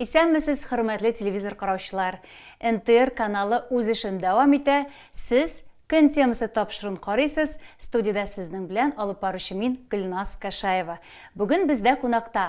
Исәнмесез, хөрмәтле телевизор караучылар. НТР каналы үз эшен дәвам итә. Сез көн темасы тапшырын карыйсыз. Студиядә сезнең белән алып баручы мин Гөлназ Кашаева. Бүген бездә кунакта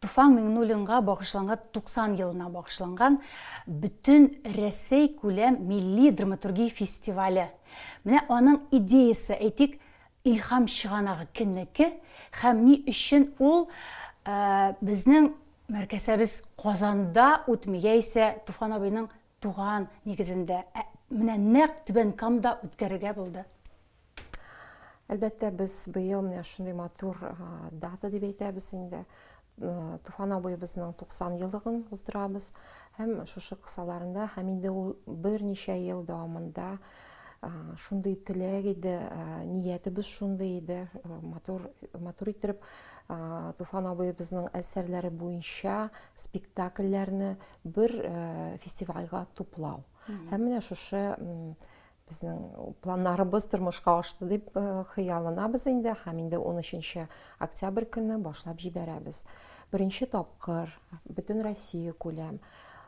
Туфан Миңнуллинга багышланган 90 елына багышланган бөтен Рәсәй күләм милли драматургия фестивале. Менә аның идеясе, әйтик, Илһам чыганагы кемнеке һәм ни өчен ул безнең мәркәсәбез Казанда үтми, яисә Туфан абыйның туган нигезендә, ә менә нәкъ Түбән Камда үткәрергә булды. Әлбәттә, без быел менә шундый матур дата дип әйтәбез инде. Туфан абыебызның 90 еллыгын уздырабыз һәм шушы кысаларында һәм инде ул берничә ел дәвамында шундый теләк иде, ниятебез шундый иде, матур, матур иттереп Туфан абыебызның әсәрләре буенча спектакльләрне бер фестивальгә туплау. Һәм менә шушы Безнең планнарыбыз тормышка ашты дип э, хыялланабыз инде һәм инде 13 октябрь көнне башлап җибәрәбез. Беренче тапкыр бөтен Россия күләм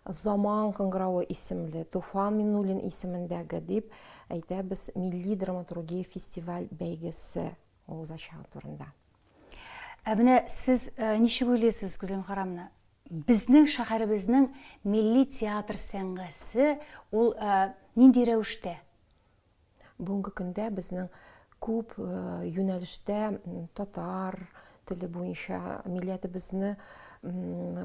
Заман кыңгыравы исемле Туфан Минуллин исемендәге дип әйтәбез милли драматургия фестиваль бәйгесе авыз ачыгы турында. Ә менә сез ничек уйлыйсыз, Гүзәл Мөхәррамовна, безнең шәһәребезнең милли театр сәнгате ул нинди рәвештә? Бүгенге көндә безнең күп юнәлештә татар теле буенча милләтебезне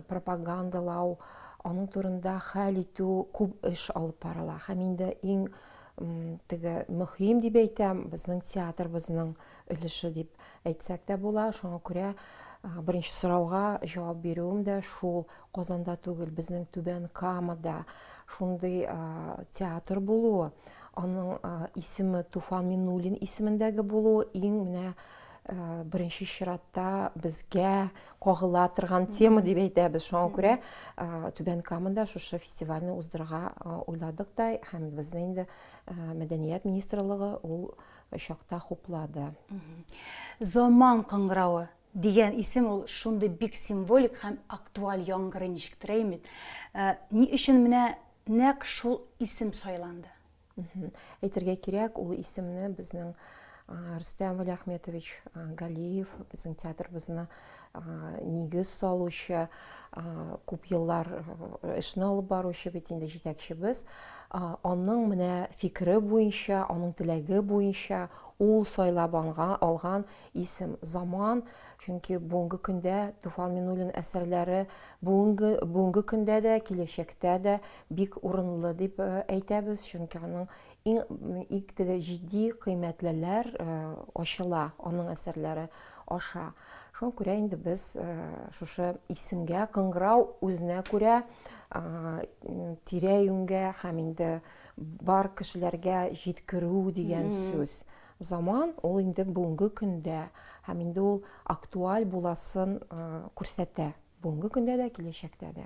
пропагандалау, аның турында хәл итү күп эш алып барыла. Һәм инде иң теге мөһим дип әйтәм, безнең театрыбызның өлеше дип әйтсәк тә була. Шуңа күрә беренче сорауга җавап бирүем дә шул. Казанда түгел, безнең Түбән Камада шундый театр булуы, аның исеме Туфан Миннуллин исемендәге булуы иң менә Э, беренче чиратта безгә кагыла торган тема дип әйтәбез шуңа күрә э, түбән камада шушы фестивальне уздырырга э, уйладык та һәм безне инде мәдәният министрлыгы ул чакта хуплады заман кыңгыравы дигән исем ул шундый бик символик һәм актуаль яңгырый ничектер әймит ни өчен менә нәкъ шул исем сайланды Әйтергә кирәк, ул исемне безнең Рөстәм Вәлиәхметович Галиев, безнең театрыбызны нигез салучы, күп еллар эшне алып баручы бит инде җитәкчебез. Аның менә фикере буенча, аның теләге буенча ул сайлап алган исем Заман, чөнки бүгенге көндә Туфан Минуллин әсәрләре бүгенге бүгенге көндә дә, киләчәктә дә бик урынлы дип э, әйтәбез, чөнки аның иң теге җитди кыйммәтлеләр э, ачыла аның әсәрләре аша. Шуңа күрә инде без э, шушы исемгә кыңгырау үзенә күрә тирә-юньгә һәм инде бар кешеләргә җиткерү дигән сүз заман ул инде бүгенге көндә һәм инде ул актуаль буласын күрсәтә бүгенге көндә дә киләчәктә дә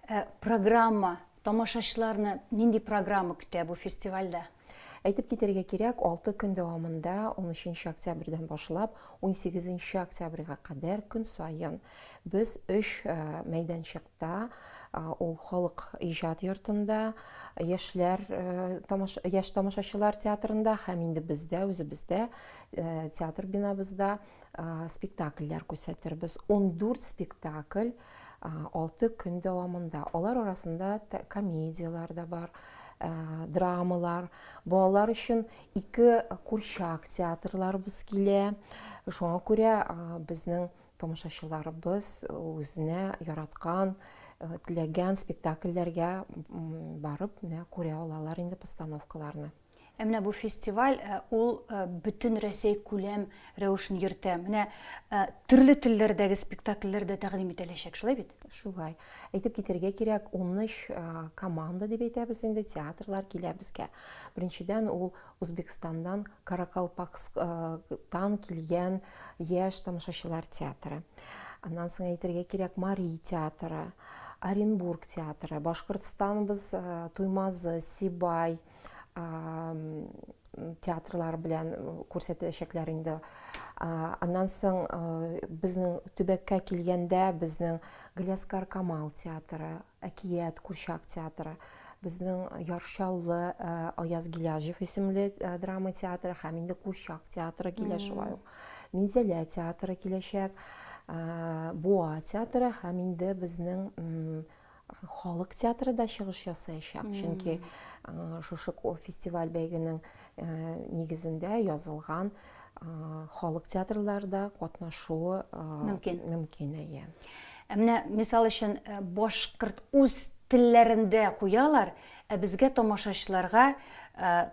Ә программа, тамашачыларны нинди программа көтә бу фестивальдә? Әйтеп китерергә кирәк, 6 көн дәвамында 13 октябрьдән башлап 18 октябрьгә кадәр көн саен без 3 э, мәйданчыкта, э, ул халык иҗат йортында, яшьләр э, тамаш яшь тамашачылар театрында һәм инде бездә үзебездә театр бинабызда спектакльләр күрсәтербез. 14 спектакль Алты көн дәвамында. Алар арасында комедияләр дә бар, драмалар, балалар өчен ике курчак театрларыбыз килә. Шуңа күрә безнең тамашачыларыбыз үзенә яраткан, теләгән спектакльләргә барып, менә күрә алалар инде постановкаларны. Ә менә бу фестиваль э, ул э, бөтен Рәсәй күләм рәвешен йөртә. Менә э, төрле телләрдәге спектакльләр дә тәкъдим ителәчәк, шулай бит? Шулай. Әйтеп китергә кирәк, 13 команда дип әйтәбез инде, театрлар килә безгә. Беренчедән ул Үзбекстандан Каракалпакстан килгән яшь тамашачылар театры. Аннан соң әйтергә кирәк Мари театры, Оренбург театры, Башкортстаныбыз Туймазы, Сибай, театрлар белән күрсәтәчәкләр инде. Аннан соң безнең төбәккә килгәндә безнең Гляскар Камал театры, Әкият курчак театры, безнең Яршаллы Аяз Гиляжев исемле драма театры һәм инде курчак театры килә шулай ук. Минзәлә театры киләчәк, Буа театры һәм инде безнең халык театры да чыгыш ясаячак. Чөнки шушы фестиваль бәйгенең нигезендә язылган халык театрларда катнашуы мөмкин. Мөмкин, әйе. Ә менә мисал өчен башкорт үз телләрендә куялар, ә безгә тамашачыларга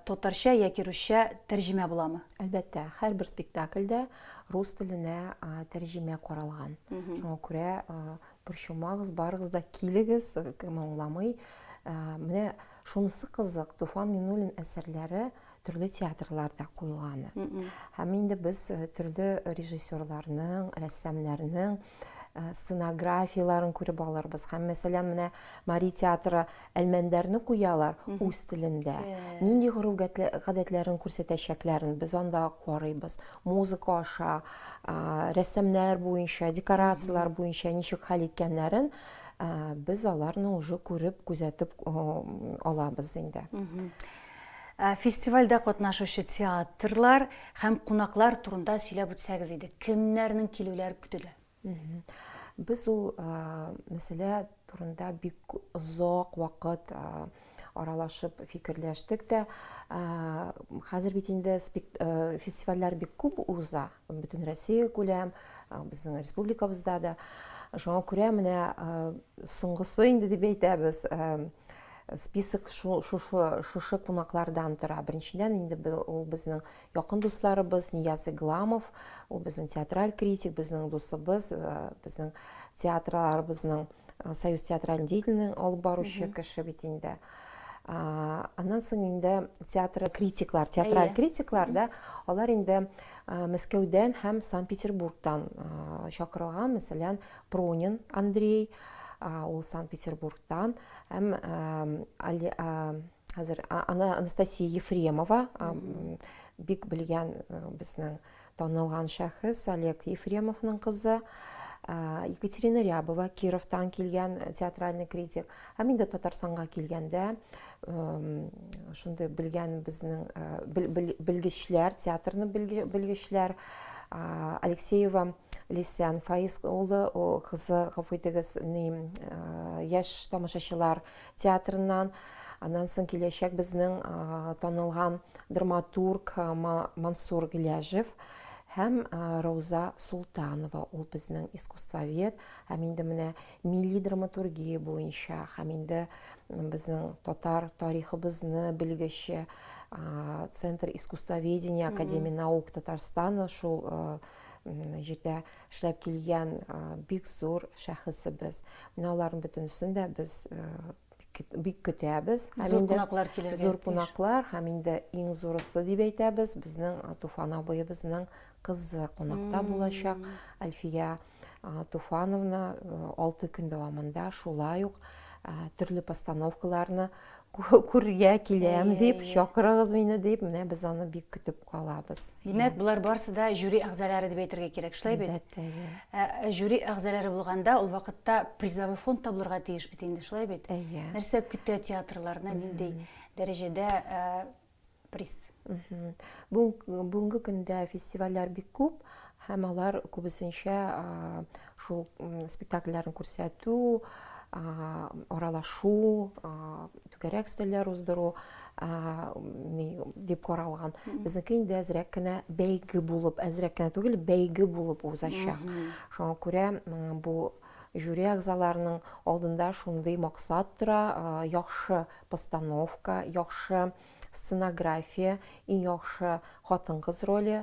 татарча яки русча тәрҗемә буламы? Әлбәттә, һәрбер спектакльдә рус теленә тәрҗемә каралган. Шуңа күрә Борчылмагыз, барыгыз да килегез, кем аңламый. Ә, менә шунысы кызык, Туфан Минуллин әсәрләре төрле театрларда куелганы. Һәм инде без э, төрле режиссерларның, рәссамнарның э, сценографияләрен күреп алырбыз. Һәм мәсәлән, менә Мари театры Әлмәндәрне куялар үз телендә. Нинди гореф-гадәтләрен күрсәтәчәкләрен без анда карыйбыз. Музыка аша, рәссамнар буенча, декорацияләр буенча ничек хәл иткәннәрен без аларны уже күреп, күзәтеп алабыз инде. Фестивальдә катнашучы театрлар һәм кунаклар турында сөйләп үтсәгез иде. Кемнәрнең килүләре көтелә? Без ул мәсьәлә турында бик озак вакыт аралашып фикерләштек тә хәзер бит инде фестивальләр бик күп уза бөтен россия күләм безнең республикабызда да шуңа күрә менә соңгысы инде дип әйтәбез список шушы кунаклардан тора беренчедән инде ул безнең Якын дусларыбыз Нияз Игламов, ул безнең театраль критик, безнең дусыбыз, э, безнең театрларыбызның э, Союз театральной деятельлегенең алып баручы кеше бит инде. А, Аннан соң инде театр критиклар, театраль Әйе. критиклар да, алар инде э, Мәскәүдән һәм Санкт-Петербургтан э, чакырылган, мәсәлән, Пронин Андрей, а, ул Санкт-Петербургтан, һәм э, Али- э, Хәзер аны Анастасия Ефремова бик белгән безнең танылган шәхес Олег Ефремовның кызы. Екатерина Рябова Кировтан килгән э, театральный критик. Һәм инде Татарстанга килгәндә шундый белгән безнең э, белгечләр, театрны белгечләр Алексеева Лисян Фаиз улы, кызы, гафу итегез, э, яшь тамашачылар театрыннан, аннан соң киләчәк безнең танылган драматург Мансур Гиляжев һәм Рауза Султанова, ул безнең искусствовед, һәм инде менә милли драматургия буенча, һәм инде безнең татар тарихыбызны белгече Центр искусствоведения Академии наук Татарстана шул җирдә эшләп килгән бик зур шәхесебез. Менә аларның бөтенесен дә без бик көтәбез. Зур кунаклар килергә. Зур кунаклар һәм инде иң зурысы дип әйтәбез, безнең Туфан абыебызның кызы кунакта булачак. Альфия Туфановна алты көн дәвамында шулай ук төрле постановкаларны күрергә киләм иә, дип иә. чакырыгыз мине дип менә без аны бик көтеп калабыз димәк иә. болар барысы да жюри әгъзалары дип әйтергә кирәк шулай бит әлбәттә иә ә, ә, жюри әгъзалары булганда ул вакытта призовой фонд та булырга тиеш бит инде шулай бит иә нәрсә көтә театрларны ниндәй дәрәҗәдә ә, приз. Бүгенге көндә фестивальләр бик күп, һәм алар күбесенчә шул спектакльләрен күрсәтү, аралашу, түгәрәк өстәлләр уздыру дип каралган. Безнеке инде әзрәк кенә бәйге булып, әзрәк кенә түгел, бәйге булып узачак. Шуңа күрә бу Жюри әгъзаларының алдында шундый максат тора, яхшы постановка, яхшы сценография, иң яхшы хатын-кыз роле,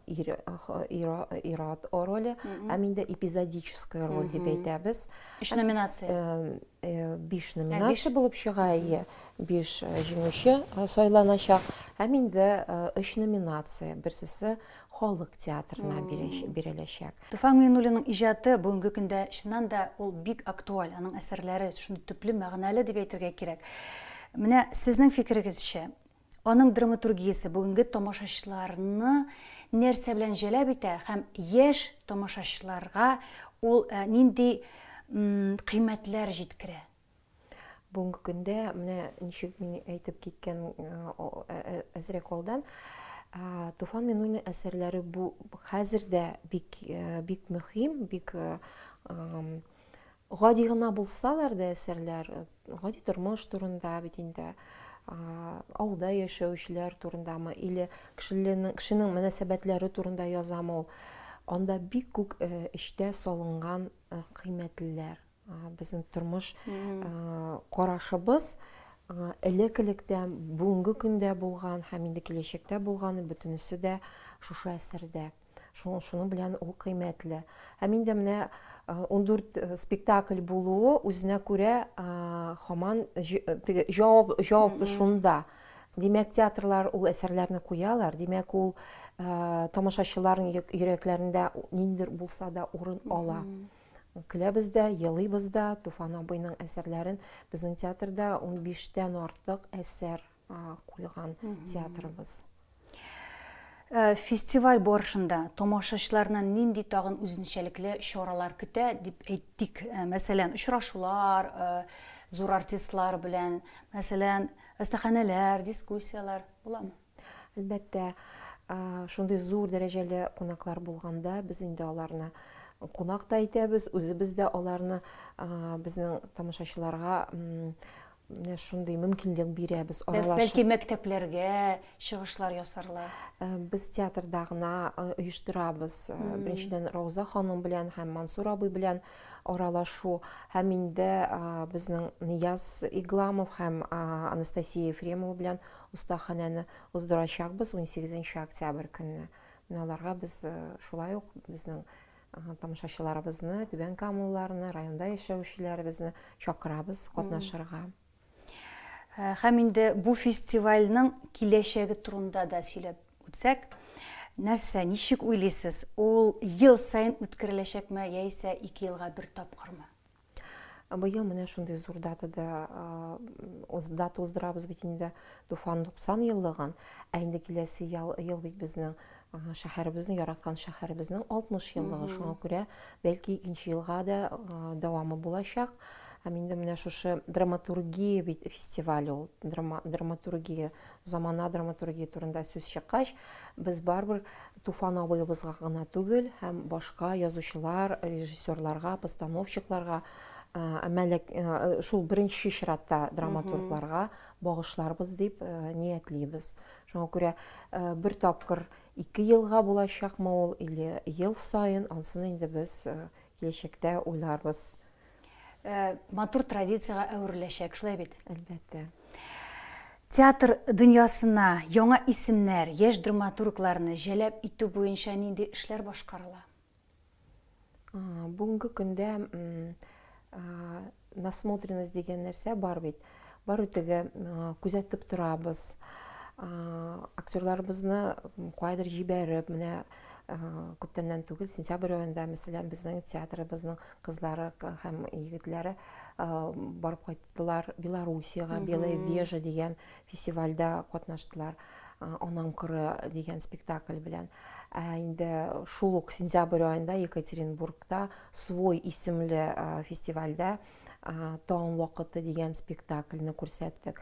ир-ат роле, һәм инде эпизодическая роль дип әйтәбез. Өч номинация. Э, э, биш номинация булып чыга, ие. Биш э, җиңүче сайланачак. Һәм инде өч номинация, берсесе халык театрына биреләчәк. Туфан Миңнуллинның иҗаты бүгенге көндә чыннан да ул бик актуаль, аның әсәрләре шундый төпле, мәгънәле дип әйтергә кирәк. Менә сезнең фикерегезчә, аның драматургиясе бүгенге тамашачыларны нәрсә белән җәлеп итә һәм яшь тамашачыларга ул э, нинди кыйммәтләр җиткерә? Бүгенге көндә менә ничек мин әйтеп киткән әзрәк алдан Туфан Минуллин әсәрләре бу хәзер дә бик бик мөһим, бик гади гына булсалар да әсәрләр, гади тормыш турында бит инде авылда яшәүчеләр турындамы или кешенең кешенең мөнәсәбәтләре турында язамы ул анда бик күп эчтә салынган кыйммәтлеләр Безнең тормыш карашыбыз элек-электән, бүгенге көндә булган һәм инде киләчәктә булганы бөтенесе дә шушы әсәрдә. Шуның шуның белән ул кыйммәтле. Һәм инде менә 14 спектакль булуы үзенә күрә хаман җавап җавап шунда. Димәк, театрлар ул әсәрләрне куялар. Димәк, ул тамашачыларның йөрәкләрендә ниндидер булса да урын ала. Көләбез дә, елыйбыз да. Туфан абыйның әсәрләрен безнең театрда 15 тән артык әсәр куйган театрыбыз. Э, фестиваль барышында тамашачыларны нинди тагын үзенчәлекле чаралар көтә дип әйттек. Э, мәсәлән, очрашулар, э, зур артистлар белән, мәсәлән, әстәханәләр, дискуссияләр буламы? Әлбәттә, шундый зур дәрәҗәле кунаклар булганда, без инде аларны кунак та итәбез, үзебез дә аларны безнең тамашачыларга менә шундый мөмкинлек бирәбез аралашу бәлки мәктәпләргә чыгышлар ясарла э, без театрда гына э, оештырабыз э, беренчедән рауза ханым белән һәм мансур абый белән аралашу һәм инде безнең нияз игламов һәм анастасия ефремова белән Остаханәне уздырачакбыз унсигезенче октябрь көнне. Менә аларга без шулай ук безнең тамашачыларыбызны, түбән камалыларны, районда яшәүчеләребезне чакырабыз катнашырга. Һәм инде бу фестивальның киләчәге турында да сөйләп үтсәк, нәрсә, ничек уйлыйсыз, ул ел саен үткәреләчәкме яисә ике елга бер тапкырмы? Быел менә шундый зур датада дата уздырабыз бит инде Туфан 90 еллыгын. Ә инде киләсе ел, ел бит безнең шәһәребезнең яраткан шәһәребезнең 60 еллыгы. Шуңа күрә бәлки икенче елга да дәвамы булачак. Һәм инде менә шушы драматургия бит фестиваль ул. Драма, драматургия, замана драматургия турында сүз чыккач, без барбер Туфан абыебызга гына түгел, һәм башка язучылар, режиссерларга, постановщикларга, мәлек, шул беренче чиратта драматургларга багышларбыз дип ниятлибез. Шуңа күрә бер тапкыр ике елга булачакмы ул или ел саен, ансын инде без киләчәктә уйларбыз. Э, матур традициягә әвереләчәк, шулай бит? Әлбәттә. Театр дөньясына яңа исемнәр, яшь драматургларны җәлеп итү буенча нинди эшләр башкарыла? Бүгенге көндә насмотренность дигән нәрсә бар бит. Бар үтеге күзәтеп торабыз. Актерларыбызны кайдыр җибәреп, менә күптәннән түгел сентябрь аенда мәсәлән безнең театрыбызның кызлары һәм егетләре барып кайттылар белоруссияга белая вежа дигән фестивальдә катнаштылар анаң кыры дигән спектакль белән ә инде шул ук сентябрь аенда екатеринбургта свой исемле фестивальдә таң вакыты дигән спектакльне күрсәттек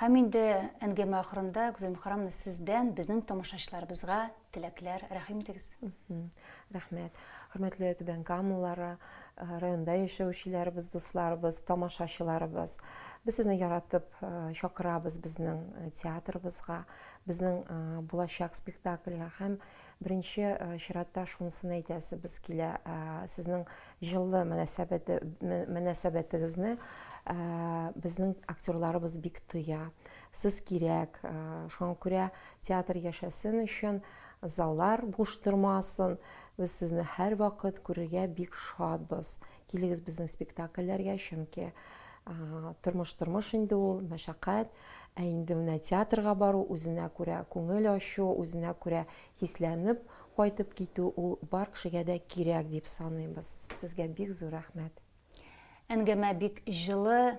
һәм инде әңгәмә ахырында гүзәл мөхәррәмовна сездән безнең тамашачыларыбызга Теләкләр, рәхим итегез. Рәхмәт. Хөрмәтле Түбән Камалары, э, районда яшәүчеләребез, дусларыбыз, тамашачыларыбыз. Без сезне яратып э, чакырабыз безнең э, театрыбызга, безнең булачак спектакльгә һәм беренче чиратта шунысын әйтәсе без килә, сезнең җылы мөнәсәбәтегезне безнең актерларыбыз бик тоя. Сез кирәк, шуңа күрә театр яшәсен өчен, заллар буш тормасын. Без сезне һәрвакыт күрергә бик шатбыз. Килегез безнең спектакльләргә, чөнки тормыш тормыш инде ул, мәшәкать. Ә инде менә театрга бару, үзенә күрә күңел ачу, үзенә күрә хисләнеп кайтып китү ул бар кешегә дә кирәк дип саныйбыз. Сезгә бик зур рәхмәт. Әңгәмә бик җылы,